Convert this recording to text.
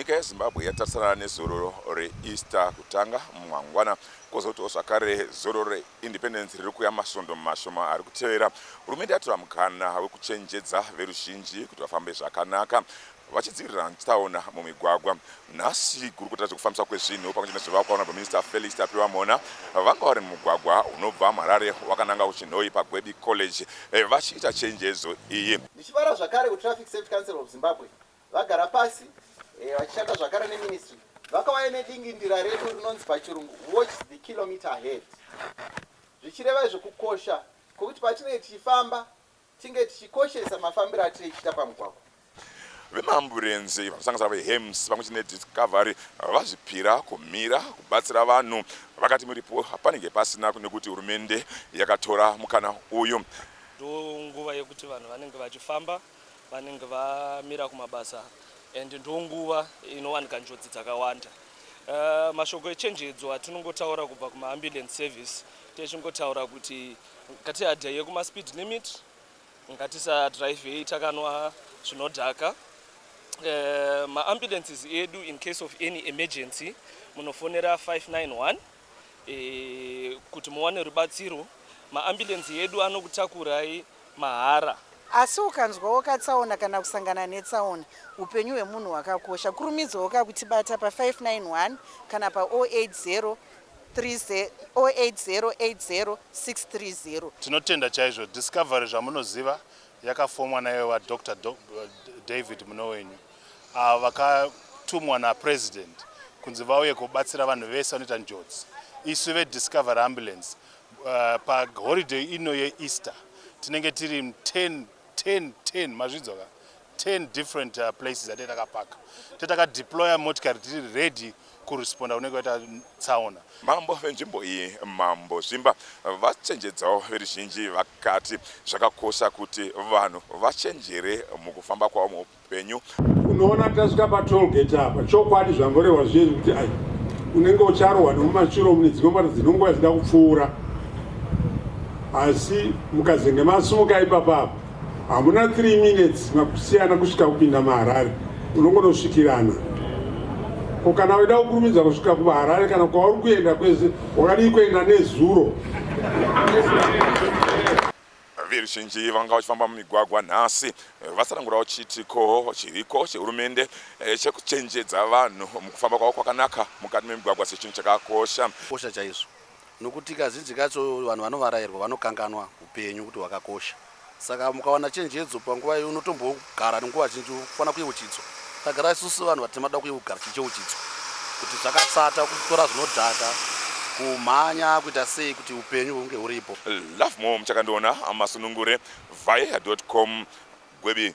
nyika yezimbabwe yatarisana nezororo reeaster kutanga mumangwana kwozotiwo zvakare zororo reindependence riri kuya masvondo mashoma ari kutevera hurumende yatora mukana wekuchenjedza veruzhinji kuti vafambe zvakanaka vachidzivirira tsaona mumigwagwa. Nhasi gurukota rezvekufambiswa kwezvinhu pamwe chete nezvivakwa vanobva minista Felix Tapiwa Mhona vanga vari mumugwagwa unobva muHarare wakananga kuChinhoyi paGwebi College eh, vachiita chenjedzo iyi. Ndichivara zvakare kuTraffic Safety Council of Zimbabwe vagara pasi eh, vachishanda zvakare neministry vakauya nedingindira redu rinonzi pachirungu watch the kilometer ahead zvichireva izvo kukosha kwekuti patinenge tichifamba Tinge tichikoshesa mafambiro atiri ichita pamugwagwa. Vemaamburenzi vanosanganisira veHEMS pamwe chete neDiscovery vazvipira kumira kubatsira vanhu vakati muripo panenge pasina nekuti hurumende yakatora mukana uyu. Ndonguva yekuti vanhu vanenge vachifamba vanenge vamira kumabasa and ndonguva inowanika njodzi dzakawanda. Uh, mashoko echenjedzo atinongotaura kubva kumaambulance service techingotaura kuti Ngatiadyaye kuma speed limit, ngatisadrivei takanwa zvinodhaka. Eh, ma ambulances edu in case of any emergency munofonera 591 eh, kuti muwane rubatsiro. Ma ambulance edu anokutakurai mahara. Asi ukanzwawo katsaona kana kusangana netsaona, upenyu hwemunhu hwakakosha. Kurumidzawo ka kutibata pa 591 kana pa 080 08080630. Tinotenda chaizvo Discovery zvamunoziva yakafomwa naive vaDr David Munowenyu avo vakatumwa naPresident kunzi vauye kubatsira vanhu vese vanoita njodzi. Isu veDiscovery Ambulance uh, paholiday ino yeEaster tinenge tiri 10 10 10 mazvidzwa ka 10 different uh, places atete takapaka tete takadeploya motikari tiri ready kuresponda kunenge kwaita tsaona mambo venzvimbo iyi mambo zvimba vachenjedzawo veruzhinji vakati zvakakosha kuti vanhu vachenjere mukufamba kwavo penyu. Unoona tasvika patollgate apa chokwadi zvamborehwa zviye zvekuti ai unenge ucharohwa nemumachiro mune dzimwe mota dzinongoya dzida kupfuura asi mukazenge masumuka ipapa apa hamuna 3 minutes makusiyana kusvika kupinda maharare unongonosvikirana ko kana uida kukurumidza kusvika kuvaharare kana kwauri kuenda kwese wakadii kuenda nezuro Veruzhinji vanga vachifamba mumigwagwa nhasi vatsanangurawo chiitiko chiriko chehurumende eh, chekuchenjedza vanhu mukufamba kwavo kwakanaka mukati memigwagwa sechinhu chakakosha kosha chaizvo nokuti kazhinji kacho vanhu vanovarairwa vanokanganwa upenyu kuti hwakakosha saka mukawana chenjedzo panguva iyo unotombo Gara nenguva zhinji ufanira kuyeuchidzwa. Tagara isusu vanhu vatema toda kuyeugar tichiyeuchidzwa kuti zvakasata kutora zvinodhaka, kumhanya, kuita sei kuti upenyu hunge huripo. Love more muchakandiona masunungure via com gwebi.